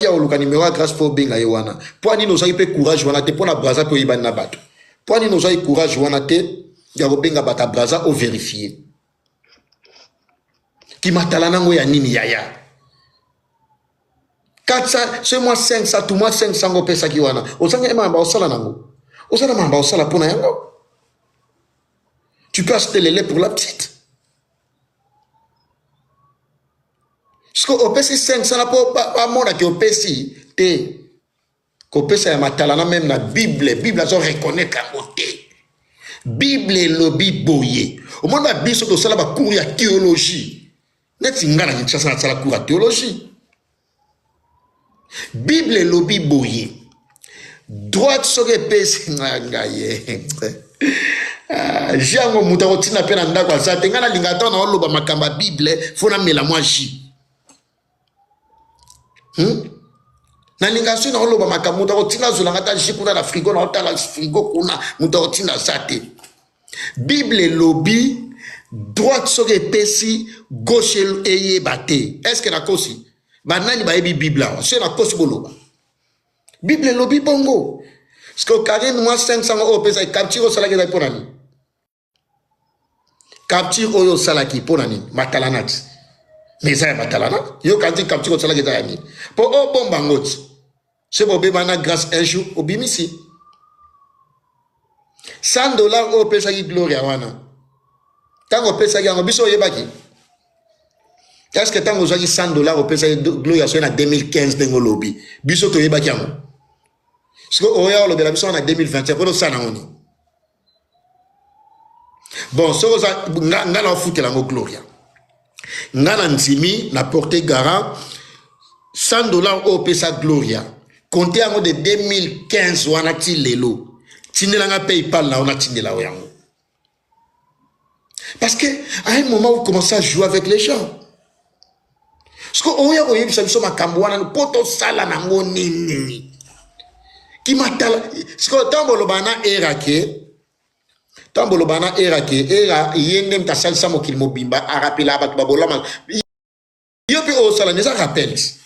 Ozalaki ya oluka numero ya Grace po benga ye wana. Pwa nini ozaki pe courage wana te pona Brazza pe oyebani na batu. Pwa nini ozaki courage wana te ya kobenga bata Brazza o verifier. Kimatala nango ya nini yaya? 400 ce mois 500 tout mois 500 ngo pesa ki wana. Ozangi ema ba osala nango. Ozana mamba osala pona yango. Tu peux acheter les laits pour la petite. siko opesi 500 na po bamona ke opesi te kopesa ya matalana meme na bible bible azo reconnaître yango te bible elobi boye omoni ba biso tosala bacours ya théologie neti ngai na kinshasa nasala cours ya théologie bible elobi boye droite soki epesi nga ngaye ah, ji yango moto akotina mpe na ndako aza te ngai nalinga ata na oloba makambo ya bible fo namela mwa ji hmm? nalinga soki naoloba makambo moto akotinda azolanga ata ji kuna na frigo naotala frigo kuna moto akotinda aza te bible elobi droite soki epesi gauche eyeba te estce nakosi banani bayebi bible awa se nakosi boloba bible elobi bongo sikoyo karine mwa 500 oyo opesaki capture osalaki ezali mpo na nini capture oyo osalaki mpo na nini matalanati mais eza ya matalana yo kanti capture osalaki eza ya nini mpo obomba ngoti soki bobeba na grace un jour obimisi 100 dollar oyo opesaki gloria wana ntango opesaki yango biso oyebaki eske ntango ozwaki 100 dollar opesaki gloria soki na 2015 ndenge olobi biso toyebaki yango sikoyo oya olobela biso wana na 2021 mpona osala nango nini bon soki oza nga, nga na ofutela yango gloria nga na ndimi na porte garant 100 dollar oyo opesa gloria konte yango de 2015 wana ti lelo tindela nga paypal na yo natindela yo yango parce que à un moment vous commencez à jouer avec les gens sikoyo oya koyebisa biso makambo wana mpo tosala nango nini kimatala sikoyo ntango boloba na era ke ntango boloba na era ke era ye nde moto asalisa mokili mobimba arapela bato babolama yo mpe osala eza rappels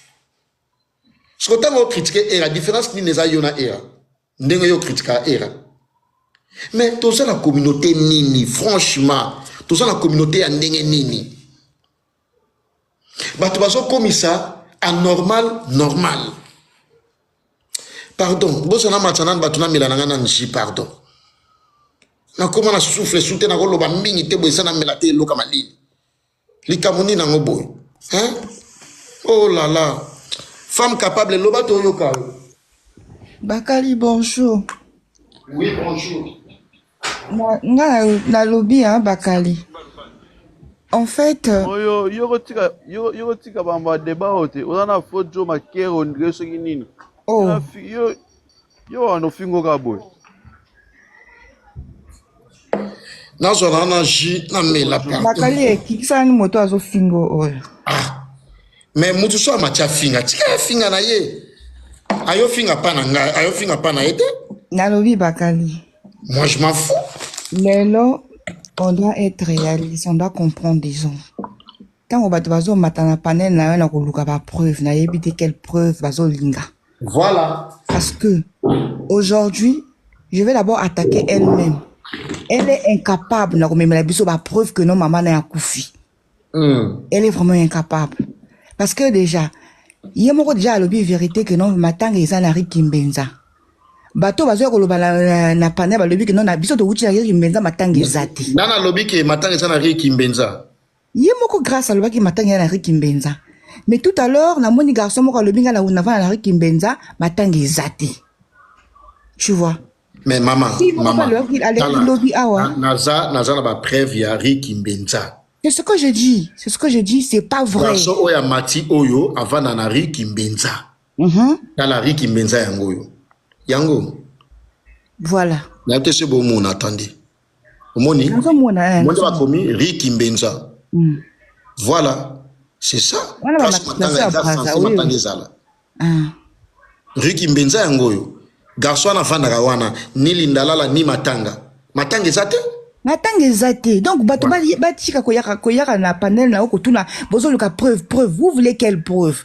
sikoyo ntango okritike era différence nini eza yo na era ndenge yo critika era mais toza na communauté nini franchement toza na communauté ya ndenge nini bato bazokomisa anormal normal pardon bosa na matsa nani bato namela na ngai na nji pardon nakoma na souffle su te nakoloba mingi te boye eza namela te eloka malili likambo nini yango boye hein? oh la la femme capable loba toyoka yo bakali bonjour oui bonjour nga nalobi hein bakali en fait euh, oyo yoko tika yoko tika bamba débat oyo te oza na faux jo makero ndire soki nini oh. yo yo wana ofingo kaka boye nazwa na na jus namela nakali ekikisani moto azofingo oyo ah. me motu so amati afinga tika afinga na ye ayofinga pa na ngai ayofinga pa na ye te nalobi bakali moi je m'en fous lelo on doit être réaliste on doit comprendre des gens ntango bato bazomata na panel na yo na koluka bapreuve nayebi te quelle preuve bazolinga Voilà. Parce que aujourd'hui, je vais d'abord attaquer elle-même. Elle est incapable na komemela biso ba preuve que non maman na ya kufi. Mm. Elle est vraiment incapable. Parce que déjà, ye moko déjà alobi vérité que non matanga eza na Rick Kimbenza. Bato bazoya koloba na, na, na panel balobi que non na biso towuti na Rick Kimbenza matanga eza te. Nana alobi ke matanga eza na Rick Kimbenza. Ye moko Grace alobaki matanga ya na Rue Kimbenza. Mais tout à l'heure namoni garçon moko alobi nga na navanda na Rue Kimbenza matanga eza te. Tu vois? Mais maman, Si moko maman, alobaki aleki tala, lobi awa. na- naza naza na ba preuve ya Rue Kimbenza. C'est ce que je dis. C'est ce que je dis, c'est pas vrai. Garçon oyo amati oyo avanda na Rue Kimbenza. Mhm. Tala Rue Kimbenza yango oyo. Yango Voilà. nayo te se bomona attendez. omoni monde bakomi ri kimbenza mm. voilà c'est ça place matanga eza sense matanga ezala ah. ri kimbenza yango oyo garçon wana afandaka wana ni lindalala ni matanga matanga eza te matanga eza te donc bato batika koyaka koyaka na panel na yo kotuna bozoluka preuve preuve vous voulez quelle preuve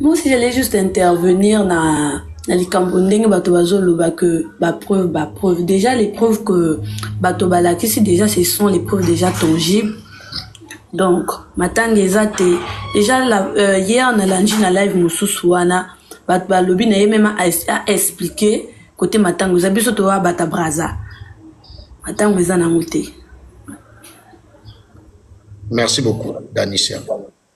Moi aussi j'allais juste intervenir na na likambo ndenge bato bazoloba que ba preuve ba preuve déjà les preuves que bato balakisi déjà ce sont les preuves déjà tangibles donc matanga eza te déjà la, euh, hier nalandi na live mosusu wana bato balobi na ye meme a explique kote matango eza biso toya bata braza matango eza nango te merci beaucoup danisia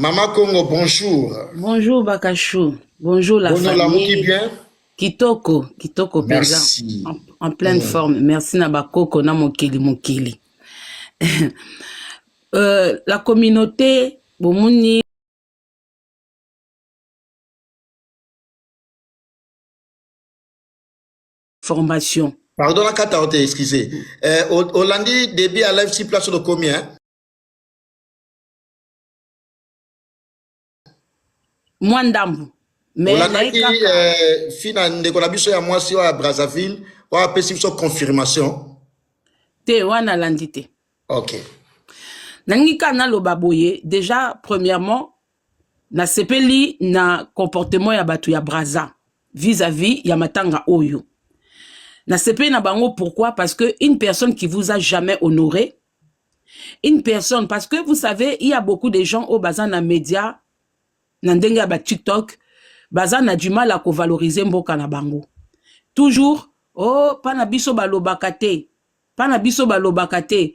Mama Kongo bonjour. Bonjour Bakachou. Bonjour la Bonjour la famille. bien. Kitoko, kitoko penza. Merci. En, en pleine mm. forme. Merci na bakoko na mokili mokili. euh, la communauté bomoni formation. Pardon la carte à excusez. Euh, Hollandi début à live si place le combien? mwa ndambu olakaki eh, fina ndeko na biso ya mwasi oyo ya brazzaville oyo apesi biso confirmation te wana alandi te ok nalingi kaka naloba boye déjà premièrement nasepeli na comportement ya bato ya braza vis-à-vis ya matanga oyo nasepeli na bango pourquoi parce que une personne qui vous a jamais honoré une personne parce que vous savez il y a beaucoup de gens au baza na média na ndenge ya ba TikTok baza na du mal à ko valoriser mboka na bango toujours oh pana biso balobaka te pana biso balobaka te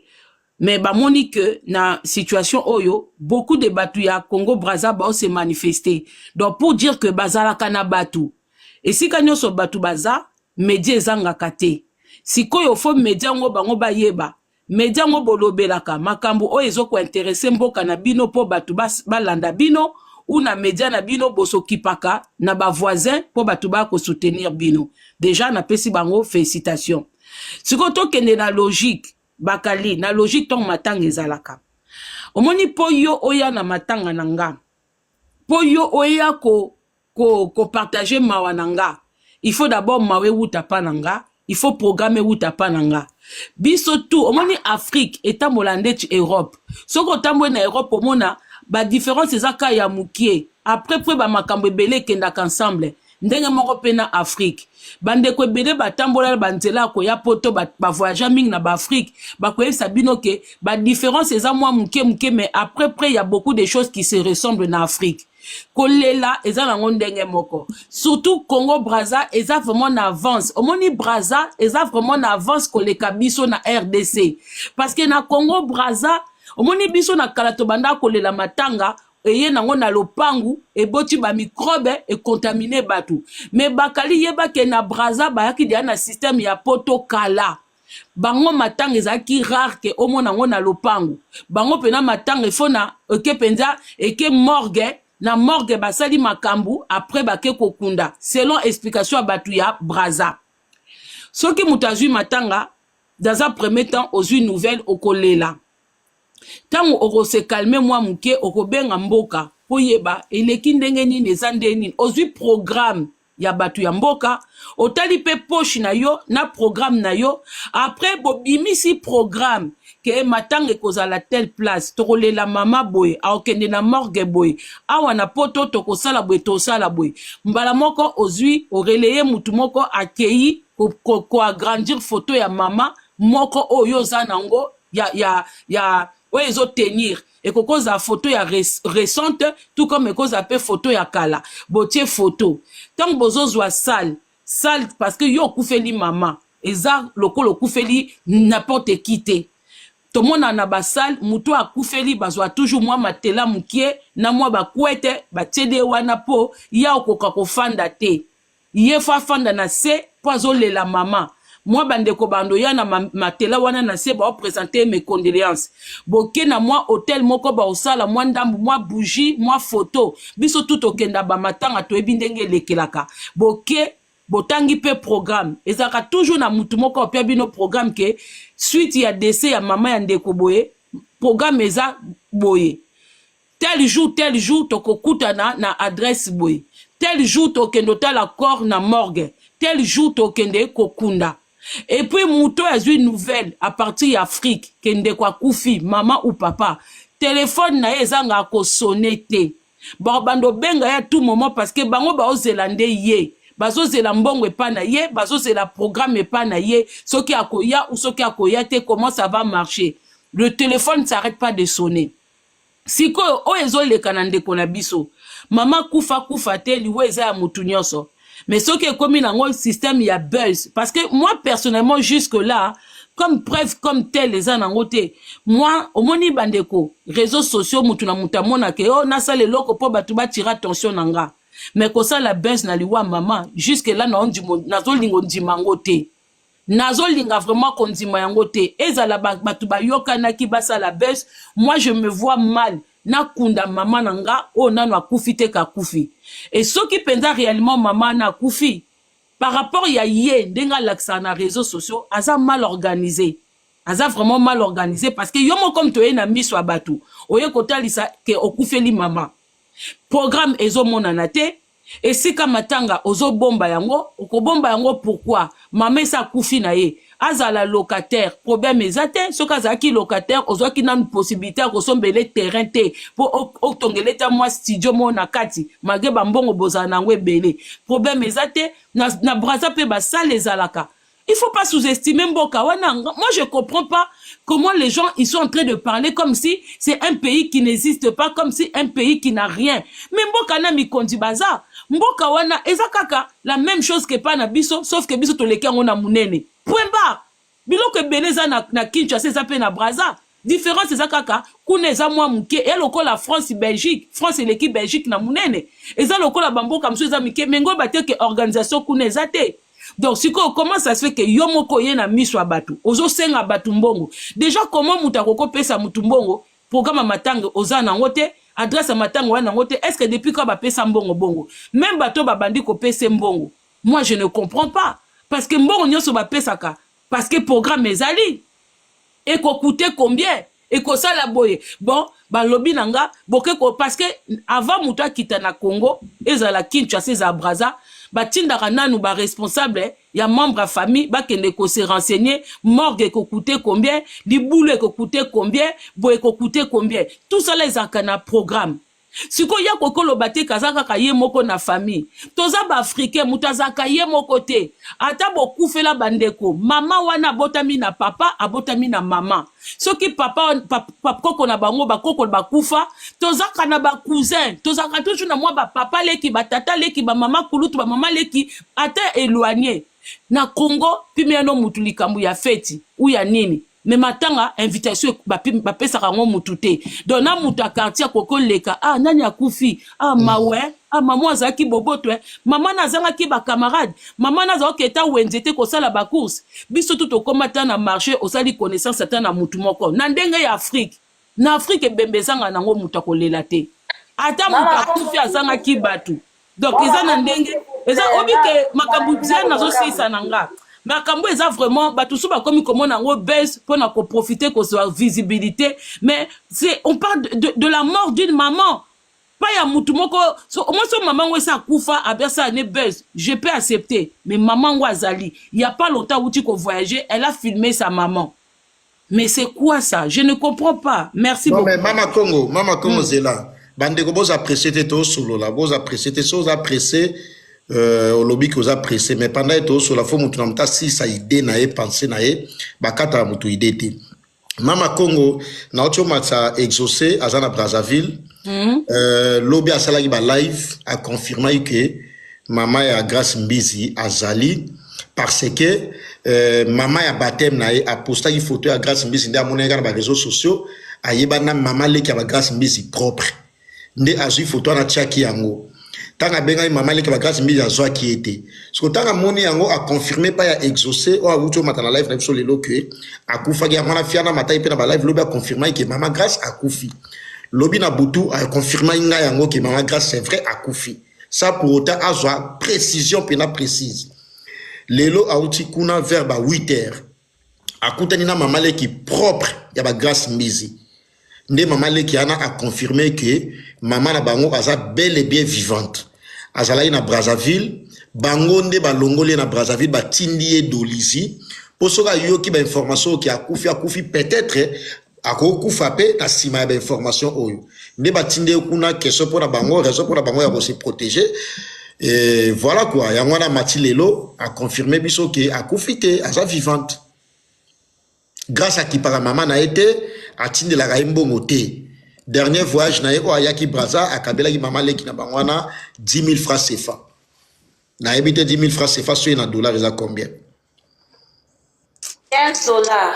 mais bamoni que na situation oyo beaucoup de batu ya Congo Brazza bao se manifester donc pour dire que bazalaka na batu esika nyoso batu baza media ezangaka te sikoyo fo media yango bango bayeba media yango bolobelaka makambo oyo ezokointerese mboka na bino mpo bato balanda bino ou na media na bino bosokipaka na bavoisin mpo bato baya kosoutenir bino deja napesi bango félicitation sikoyo tokende na logique bakali na logique ntango matanga ezalaka omoni mpo yo oya na matanga na nga mpo yo oya ko ko ko partager mawa na nga il faut d'abord mawa ewuta pa na nga il faut programme ewuta pa na nga biso tout omoni afrique etambola ndeti europe soki otamboli na europe omona ba différence eza ka ya mokie après mpe ba makambo ebele ekendaka ensemble ndenge moko mpe na afrike bandeko ebele batambola na banzela ya koya poto bavoyagea ba mingi na baafrike bakoyebisa bino ke badifference eza mwa moke moke mais après près ya beaucoup de choses qui se ressemble na afrike kolela eza nango ndenge moko surtout congo braza eza vraiment na avance omoni braza eza vraiment na avance koleka biso na rdc parce que na congo braza omoni biso na kala tobanda kolela matanga eye nango na lopangu eboti bamikrobe ekontamine bato me bakali yebake na braza bayaki deya na systeme ya poto kala bango matanga ezalaki rare ke omona yango na lopango bango mpena matanga efo na eke mpenza eke morgue na morgue basali makambo apres bake kokunda selon explication ya bato ya braza soki moto azwi matanga dans un premier temps ozwi nouvelle okolela ntango okosekalme mwa moke okobenga mboka koyeba eleki ndenge nini eza nde nini ozwi programme ya bato ya mboka otali mpe poche na yo na programme na yo après bobimisi programme ke matanga ekozala telle place tokolela mama boye aokende na morgue boye awa na poto tokosala boye tosala boye mbala moko ozwi oreleye motu moko akei koagrandir foto ya mama moko oyo oza nango ya, ya, ya oyo ezotenir ekoki kozala foto ya recente tout comme ekoki kozala mpe foto ya kala botie foto ntango bozozwa sale sale parce que yo okufeli mama eza lokola okufeli n'importe qui te tomona na basale moto oyo akufeli bazwa toujours mwa matela mokie na mwa bakwete batieli ye wana mpo ya okoka kofanda te ye fa fanda na se po azo lela mama mwa bandeko bando ya na matela wana na se bao presenter mes condoleances boke na mwa hotel moko bao sala mwa ndambu mwa bougie mwa photo biso tout okenda ba matanga toyebi ndenge elekelaka boke botangi pe programme ezalaka toujours na mutu moko opia bino programme ke suite ya dese ya mama ya ndeko boye programme eza boye tel jour tel jour tokokutana na adresse boye tel jour tokende otala corps na morgue tel jour tokende kokunda et puis moto oyo azwi nouvelle à partir ya afrique ke ndeko akufi mama ou papa telefone na ye ezanga kosone te bakobanda obenga ye tout moment parce que bango baozela nde ye bazozela mbongo epa na ye bazozela programme epa na ye soki akoya ou soki akoya te comment ça va marcher le téléphone ne s'arrête pas de sonner sikoyo oyo ezoleka na ndeko na biso mama kufa kufa te liwa eza ya motu nyonso mais soki ekomi nango système ya buzz parce que moi personnellement jusque là comme preuve comme tel eza nango te moi omoni bandeko réseaux sociaux motu na motu amonake o oh, nasala eloko mpo bato batira attention na nga mais kosala buzz na liwa mama jusque là nazolinga ondima yango te nazolinga vraiment kondima yango te ezala bato bayokanaki basala bus moi je me vois mal nakunda mama na nga oyo oh, nano akufi te kakufi e soki mpenza réellement mama ana akufi par rapport ya ye ndenge alakisaka na réseaux sociaux aza mal organisé aza vraiment mal organisé parce que yo moko comme toye na miso ya bato oye kotalisa ke okufeli mama programme ezomonana te esika matanga ozobomba yango okobomba yango pourquoi mama esi akufi na ye azala locataire problème eza te soki azalaki locataire ozwaki nanu possibilité ya kosombele terrain te mpo otongele ta mwa studio moko na kati malgre bambongo bozala na yango ebele problème eza te na, na braza mpe basale ezalaka Il faut pas sous-estimer Mboka. Moi, je comprends pas comment les gens ils sont en train de parler comme si c'est un pays qui n'existe pas, comme si un pays qui n'a rien. Mais Mboka na mikondi baza. Mboka wana eza kaka la même chose que pas na biso, sauf que biso toleki yango na munene. Point barre. Biloko ebele eza na, na Kinshasa eza pe na Brazza. Difference eza kaka kuna eza mwa muke eya lokola France Belgique France eleki Belgique na munene eza lokola bamboka mosusu eza mike me ngoyeba te ke organisation kuna eza te donc sikoyo comment ça se fait ke yo moko oye na miso ya bato ozosenga bato mbongo déjà comment moto akoki kopesa moto mbongo programme ya matanga oza nango te adresse ya matanga oya nango te est ce que depuis kaka bapesa mbongo bongo meme bato babandi kopesa mbongo moi je ne comprends pas parce que mbongo nyonso bapesaka parce que programme ezali ekokute combien ekosala boye bon balobi na nga boke ko parce que avant moto akita na congo ezala kinshasa ezala braza batindaka nanu baresponsable ya membre ya famille bakende kose renseigner morgue ekokute combien libulu ekokute combien boye ekokute combien tout sala ezalaka na programme sikoyo ya koki oloba te kaza kaka ye moko na famille toza baafricain moto azalaka ye moko te ata bokufela bandeko mama wana abotami na papa abotami na mama soki papa bakoko na bango bakoko bakufa tozaka na bacousin tozalaka toujours na mwa bapapa leki batata leki bamama kulutu bamama leki ata éloigne na congo pimeyano motu likambo ya feti ou ya nini mais matanga invitation ba pesa kango mutu te donc na mutu ya quartier akoki oleka ah nani akufi ah mawe ah maman azalaki boboto eh. mama na azangaki bacamarade mama na azala oketa wenze te kosala bacourse biso tu tokoma ata na marché osali connaissance ata na mutu moko na ndenge ya afrique na afrique ebembe ezanga nango moto akolela te ata moto akufi azangaki bato donc eza na ndenge eza obi ke makambo bien nazosilisa na nga makambo eza vraiment bato mosusu bakomi komona yango buzz mpo na koprofite kozwa visibilité mais c'est on parle de, de, de la mort d'une maman pas ya mutu moko so omoi so mama ngo esi akufa abesala ne buzz je peux accepter mais mama ngo azali ya pas longtemps awuti kovoyage elle a filme sa maman Mais c'est quoi ça Je ne comprends pas. Merci non, beaucoup. Mais Mama Congo, Mama Congo mm. Zela, bandeko boza apprécier te to solo la, boza apprécier te so za pressé euh olobi que oza pressé mais pendant que to solo la faut mutu na muta si sa idée na ye pensée na ye bakata mutu idée te. Mama Congo na ocho matsa exaucé azana Brazzaville. Mm. Euh lobi asalaki ba live a confirmer que Maman ya Grace Mbizi azali parce que euh, maman ya baptême na ye apostaki photo ya Grace Mbizi nde amonaki kaka na ba réseaux sociaux ayebani na maman leki ya ba Grace Mbizi propre nde azwi photo wana atiaki yango ntango abengaki mama leke bagrâce mbili azwaki ye te soko ntango amoni yango aconfirme epai ya exauce oyo awuti omata na live na biso lelo ke akufaki yango wana fiana mataki mpe na balive lobi aconfirmaki ke mama grâce akufi lobi na butu aconfirmaki ngai yango ke mama grâce c'est vrai akufi sans pour autant azwa précision mpena précise lelo auti kuna vers ba 8 heures akutani na mama leki propre ya ba grace mbizi nde mama leki wana aconfirme ke mama na bango aza bel et bien vivante azalaki na brazzaville bango nde balongoli ye na brazzaville batindi ye dolizi mpo soki ayoki bainformation oyo ke akufi akufi peut-être akokufa pe na nsima ya bainformation oyo nde batindi ye kuna question mpo na bango raison mpo na bango ya kose protéger e voilà quoi yango wana mati lelo aconfirme biso ke akufi te aza vivante grâce akipaka mama na ye te atindelaka ye mbongo te dernier voyage na ye oyo ayaki braza akabelaki mama leki na bango wana 10 000 francs cefa nayebi te 10 000 francs cefa soki na dollar eza combien 15 dollars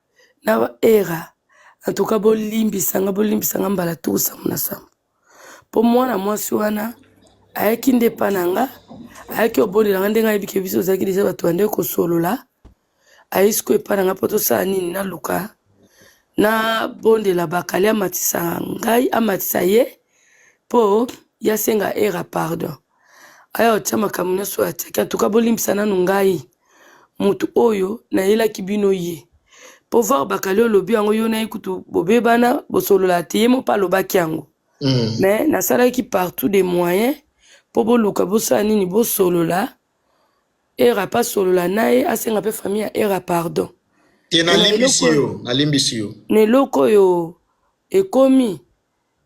na ba era en tout cas bolimbisa nga bolimbisa nga mbala tuku sambo na sambo mpo mwana mwasi wana ayaki nde epa na nga ayaki obondela nga ndenge ayebi ke biso ozalaki deja bato ya nde kosolola ayi siko epa na nga mpo tosala nini naluka na bondela bakali amatisa ngai amatisa ye mpo yasenga era pardon Aya otia makambo nionso oyo atiaki en tout cas bolimbisa nanu ngai mutu oyo nayelaki bino ye po voir bakali olobi yango yo na ye kutu bobebana bosolola te ye moko mpe alobaki yango Mm. mais nasalaki partout des moyens mpo boluka bosala nini bosolola era mpe asolola na ye asenga mpe famille ya era pardon Te na eloko nalimbisi oyo- yo, nalimbisi yo. na eloko oyo ekomi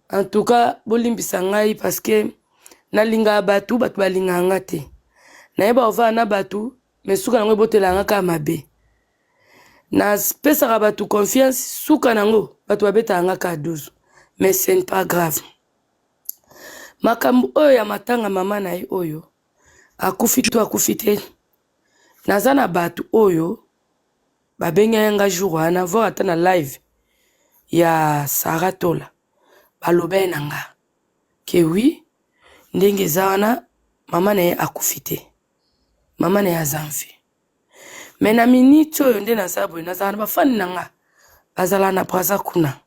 En tout cas bolimbisa ngai parce que nalingaka batu batu balingaka nga te nayeba ovanda na batu mais suka nango ebotela nga kaka mabe napesaka batu confiance suka nango batu babetaka nga kaka duzu mais ce n'est pas grave makambo oyo ya matanga mama na ye oyo akufi to akufi te naza na batu oyo Ba bengaki nga jour wana voir ata na live ya Sarah Tola ba lobaki na nga que oui ndenge eza wana maman na ye akufi te maman na ye aza en vie mais na minute oyo nde naza boye nazala na ba fan na nga bazala na Brazza kuna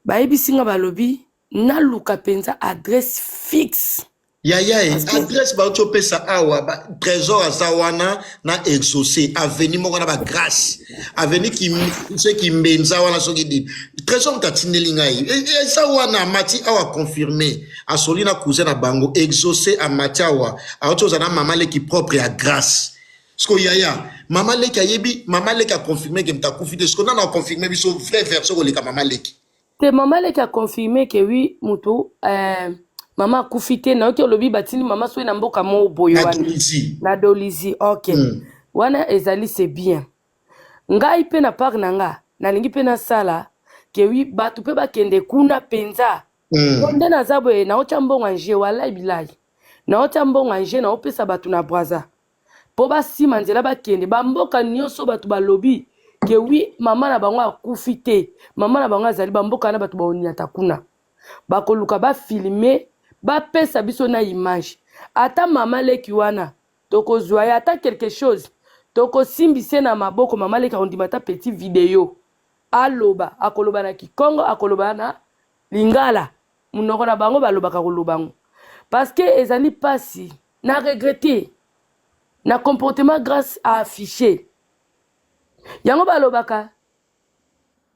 bayebisi nga balobi naluka mpenza adresse fixe yaya e adresse bauti opesa awa ba, trésor aza wana na exauce aveni moko na bagrace aveni se kimbenza wana soki di trésor moto atindeli ngai e, e, eza wana amati awa confirme asoli na cousin na bango exauce amati awa auti oza na mama leki propre ya grace siko yaya mama leki ayebi mama leki aconfirme ke moto akufi te siko nano aconfirme biso vrai version koleka mama leki te mama leki a confirme ke wi moto eh, mama akufi te nayoki olobi batindi mama soki na mboka moko boye na wana tunisie na dolizi ok Mm. wana ezali se bien ngai mpe na part na nga nalingi mpe nasala ke wi bato mpe bakende kuna mpenza Mm. po nde naza boye naotya mbongo ya nje walai bilai naotya mbongo ya nje naopesa bato na braza po basima nzela bakende bamboka nyonso bato balobi ke wi mama na bango akufi te mama na bango azali bamboka na bato baonyata kuna bakoluka bafilme bapesa biso na image ata mama leki wana tokozwa ye ata quelque chose tokosimbise na maboko mama leki akondima ata petit video aloba akoloba na kikongo akoloba na lingala monoko na bango balobaka koloba yango parceke ezali mpasi na regrete na comportement grace a affiche yango balobaka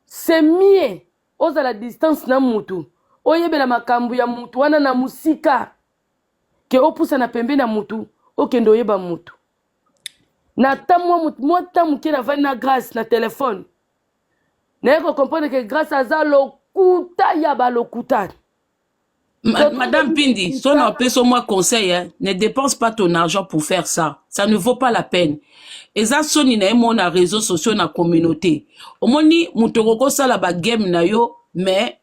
c'est mieux ozala distance na mutu oyebela makambo ya mutu wana na mosika ke opusana pembe na mutu okende oyeba mutu na ta mwa mwa ta moke navandi na grace na telefone naye kocomprendre ke grace aza lokuta ya balokuta Ma, Madame Pindi, son appeso oh, moi conseil, hein, ne dépense pas ton argent pour faire ça. Ça ne vaut pas la peine. eza soni na ye moko na réseau sociaux na communauté omoni moto okoki kosala bagame na yo mais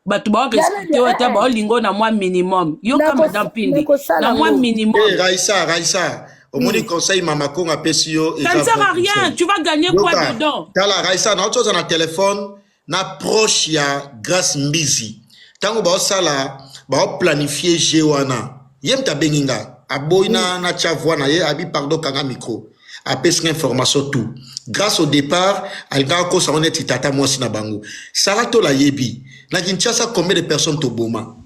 bato baorespecte yo ata baolinga oyo na mwa minimum yoka madame pindi na mwa minimum eh, raisa raisa omoni conseil mama kongo apesi yo ça ne sert à rien tu vas gagner quoi dedans tala raisa na otoza na téléphone na proche ya Grace Mbizi tango baosala baoplanifie jeu wana ye moto abengi nga aboyi na natya voix na ye abi pardon kanga micro apesi nga information tout grâce au départ alingaka kosa ngo neti tata mwasi na bango saratola ayebi na kinshasa combien de personnes toboma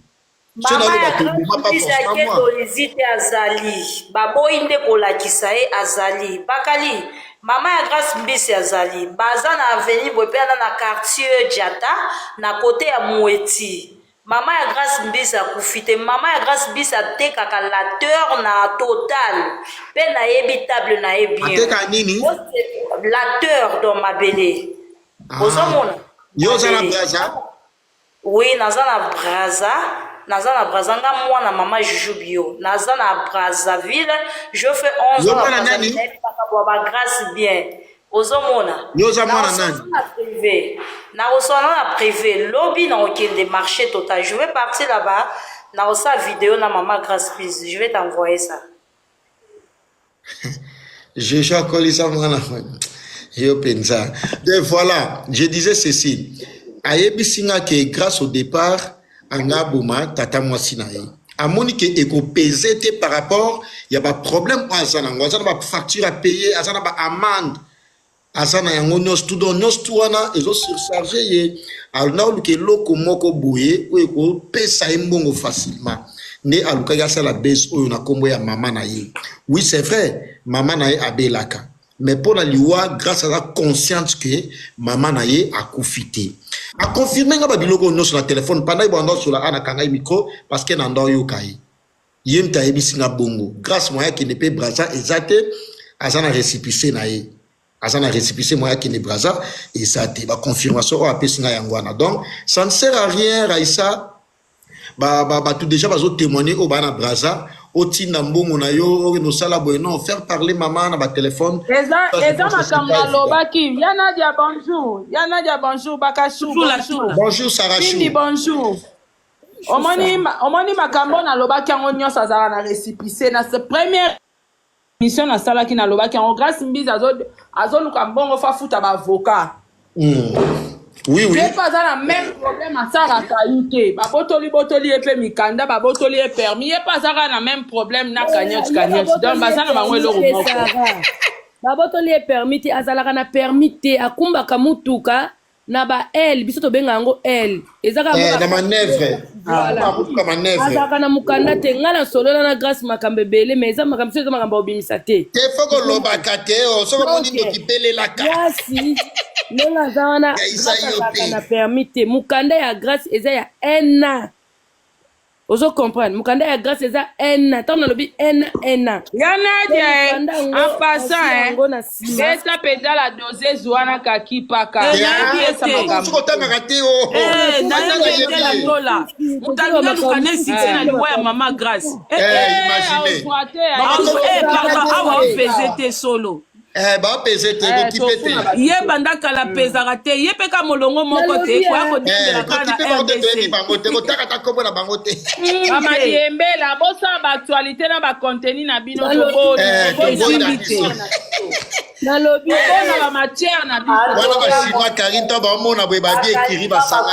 Maman ya grande eglise ya keto lizite azali baboyi nde kolakisa ye azali bakali maman ya grace mbisi azali baza na avenue boye pe aza na quartier jata na cote ya mueti maman ya grace mbisi akufi te maman ya grace mbisi atekaka lateur na total pe nayebi table na ye bien ateka nini lateur dans mabele ozomona yo oza na braza Oui naza na brazza naza na brazza nga mwana mama juju bio naza na brazza ville je fait 11 ans na brazza ville nayebi makambo ya ba grace bien ozomona nakoswana na prive lobi nakokende marché total je vais partir là-bas nakosa video na mama grace pise je vais t'envoyer ça Jojo akolisa mwana yo penza. De voilà, je disais ceci. Ayebisi nga que grâce au départ anga aboma tata mwasi na ye. Amoni que ekopese te par rapport ya ba problème oyo aza nango. Aza na ba facture à payer, aza na ba amende. aza na yango nyonso tu donc nyonso tu wana ezo surcharge ye aluna oluka eloko moko boye oyo ekopesa ye mbongo facilement nde alukaki asala base oyo na nkombo ya mama na ye oui c'est vrai mama na ye abelaka mais mpo na liwa grâce aza consciente que mama na ye akufi te akonfirme nga babiloko oyo nyonso na telefone pandaki banda osola ana kangai micro parce que nanda oyoka ye Ye mte ayebisi nga bongo. Grace moyen akende pe Brazza eza te, aza na recipice na ye. Aza na recipice moyen akende Brazza eza te. Ba confirmation oyo apesi nga yango wana. Donc ça ne sert à rien Raissa ba ba batu deja bazo temoigner oyo ba na Brazza otinda mbongo na yo okende osala boye non faire parler mama na batelefone eza eza makambo alobaki ya nadia bonjour ya nadia bonjour bakashu bonjour bonjour sarashindi bonjour omoni ma- omoni makambo oyo nalobaki yango nyonso azalaka na récipicé na se- première émission nasalaki nalobaki yango grace mbizi azo- azoluka mbongo fo afuta baavocat Mm. Oui, oui. ye mpe aza na même problème asalaka ye te babotoli botoli ye mpe mikanda babotoli ye permis ye mpe aza kaka na même problème na cagnotte cagnotte donc baza na bango eloko moko babotoli ye permis te azalaka na permis te akumbaka mutuka na ba aile biso tobenga yango aile eza kaka Eh, na manœuvre. Voilà. Ah, kutuka manœuvre. azalaka na mokanda te ngai nasolola na grace makambo ebele mais eza makambo so eza makambo ya kobimisa te Te faut kolobaka te, oh, soki omoni Donc, ndoki pelelaka. yasi ndenge aza wana Ya Isaïe Grace azalaka Ope. na permis te mokanda ya grace eza ya un an ozo comprendre mukanda ya grace eza ena ntango nalobi ena ena ya nadia eh, en passant eh, yango na nsima beta mpenza la dosese wana kakipaka Eh, nayebi ye te. soki otangaka te o Eh, nayebi ye te la tola moto alingi aluka na esite na liwa ya mama grace Eh, Eh, eh, imagine. aosuate, Azo- eh, pardon, awa mpeze te solo Eh, ba pese te eh, ko kipe te ye banda kala hmm. pezaka te ye pe ka molongo moko te koya eh. kodendela ka na rdc bango te kotaka ta kombo na bango te mama hmm. diembela bosala ba actualité na ba contenu na bino toboni nalobi bona ba matière na bino wana ba chinois karinto baomona boye babie ekiri basanga